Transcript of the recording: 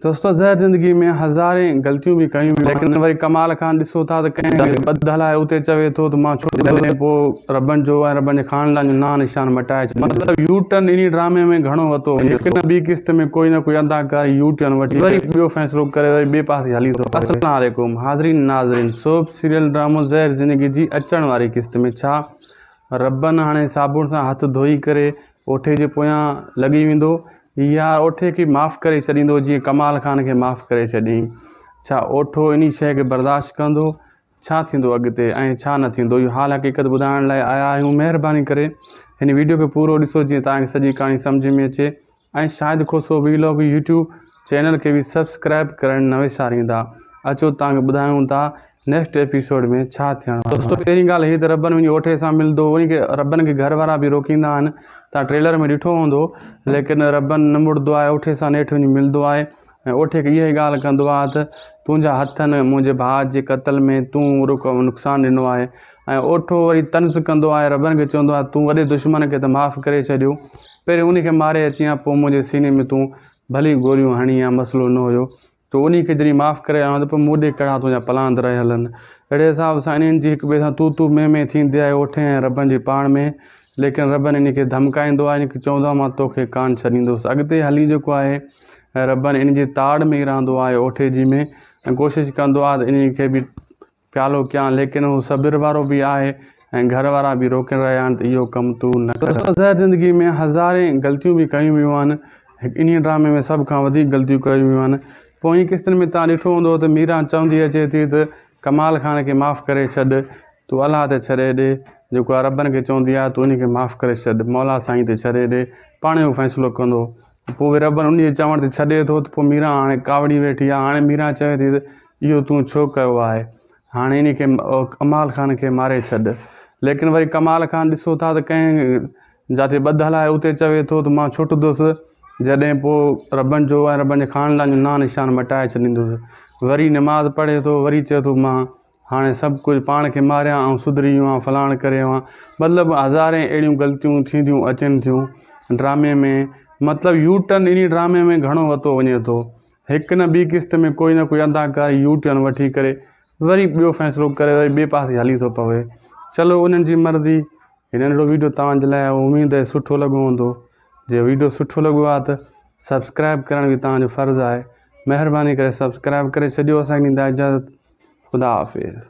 دوستو زهر زندگي ۾ هزارين غلطيون به ڪيون هيون ليڪن وري ڪمال کان ڏسو ٿا ته ڪنهن جي بد هلائي اتي چوي ٿو ته مان ڇو ٿو ڏسين پوء ربن جو ۽ ربن جي خاندان جو نانء نشان مٽائي ڇڏي مطلب يو ٽرن انهي ڊرامي ۾ گهڻو وتو وڃي هڪ نه ٻي قسط ۾ ڪوئي نه ڪوئي اداڪار يو ٽرن وٺي وري ٻيو فيصلو ڪري وري ٻي پاسي هلي ٿو پوي. السلام عليڪم حاضرين ناظرين سوپ سيريل ڊرامو زهر زندگي جي اچڻ واري قسط ۾ ڇا ربن هاڻي صابڻ سان هٿ ڌوئي ڪري اوٺي جي پويان لڳي ويندو يا اوٺي کي معاف ڪري ڇڏيندو جيئن ڪمال خان کي معاف ڪري ڇڏيائين. ڇا اوٺو انهي شيء کي برداشت ڪندو؟ ڇا ٿيندو اڳتي ۽ ڇا نه ٿيندو اهو حال حقيقت ٻڌائڻ لاء آيا آهيون مهرباني ڪري هن ويڊيو کي پورو ڏسو جيئن توهان کي سڄي ڪهاڻي سمجهه ۾ اچي ۽ Shahid Khoso vlog YouTube channel کي به سبسڪرائب ڪرڻ نه وساريندا اچو توهان کي ٻڌايون ٿا نيڪسٽ ايپيسوڊ ۾ ڇا ٿيڻ وارو دوستو پهرين ڳالهه هي ته ربن وڃي اوٺي سان ملندو ان کي ربن کي گهر وارا به روڪيندا آهن توهان ٽريلر ۾ ڏٺو هوندو ليڪن ربن نه مڙدو آهي اوٺي سان نيٺ وڃي ملندو آهي ۽ اوٺي کي اها ئي ڳالهه ڪندو آهي ته تنهنجا هٿن منهنجي ڀاء جي قتل ۾ تون نقصان ڏنو آهي ۽ اوٺو وري طنز ڪندو آهي ربن کي چوندو آهي تون وڏي دشمن کي ته معاف ڪري ڇڏيو پهرين ان کي ماري اچيان پوء منهنجي سيني ۾ تون ڀلي گوريون هڻي ها مسئلو نه هيو تو انهي کي جڏهن معاف ڪري آيو آهيان ته پوء مون ڏي ڪهڙا تنهنجا پلاند رهيل آهن اهڙي حساب سان انهن جي هڪ ٻئي سان تو تو مين مين ٿيندي آهي اوٺين ۽ ربن جي پاڻ ۾ ليڪن ربن انهي کي ڌمڪائيندو آهي انکي چوندو آهي مان توکي ڪانه ڇڏيندوس اڳتي هلي جيڪو آهي ربن انهي جي تاڙ ۾ ئي رهندو آهي اوٺي جي ۾ ۽ ڪوشش ڪندو آهي ته انهي کي به پيالو ڪيان، ليڪن هو صبر وارو به آهي ۽ گهر وارا به روڪي رهيا آهن ته اهو ڪم تون نه ڪر. تو زهر زندگي ۾ هزارين غلطيون به ڪيون ويون آهن، انهي ڊرامي ۾ سڀ کان وڌيڪ غلطيون ڪيون ويون آهن. پوئين قسطن ۾ توهان ڏٺو هوندو ته ميران چوندي اچي ٿي ته ڪمال خان کي معاف ڪري ڇڏ، تون الله تي ڇڏي ڏي، جيڪو عربن کي چوندي آهي تون انهي کي معاف ڪري ڇڏ، مولا سائين تي ڇڏي ڏي، پاڻهي هو فيصلو ڪندو. پوء ربن انهيء جي چوڻ تي ڇڏي ٿو ته پوء ميران هاڻي ڪاوڙي ويٺي آهي. هاڻي ميران چوي ٿي ته اهو تون ڇو ڪيو آهي؟ هاڻي انهيء کي ڪمال خان کي ماري ڇڏ. ليڪن وري ڪمال خان ڏسو ٿا ته ڪنهن جاتي ٻڌل آهي اتي چوي ٿو ته مان ڇٽندس جڏهن پوء ربن جو ۽ ربن جي خاندان جو نانء نشان مٽائي ڇڏيندس. وري نماز پڙهي ٿو وري چوي ٿو مان هاڻي سڀ ڪجهه پاڻ کي ماريان آئون سڌري ويو آهيان فلاڻ ڪري ويو آهيان مطلب هزارين اهڙيون غلطيون ٿينديون اچن ٿيون ڊرامي ۾ مطلب يو ٽرن انهي ڊرامي ۾ گهڻو وتو وڃي ٿو هڪ نه ٻي قسط ۾ ڪوئي نه ڪوئي اداڪار يو ٽرن وٺي ڪري وري ٻيو فيصلو ڪري وري ٻئي پاسي هلي ٿو پوي چلو انهن جي مرضي هي ننڍڙو ويڊيو توهان جي لاء اميد آهي سٺو لڳو هوندو جي ويڊيو سٺو لڳو آهي ته سبسڪرائب ڪرڻ به توهان جو فرض آهي مهرباني ڪري سبسڪرائب ڪري ڇڏيو اسان کي ڏيندا اجازت خدا حافظ.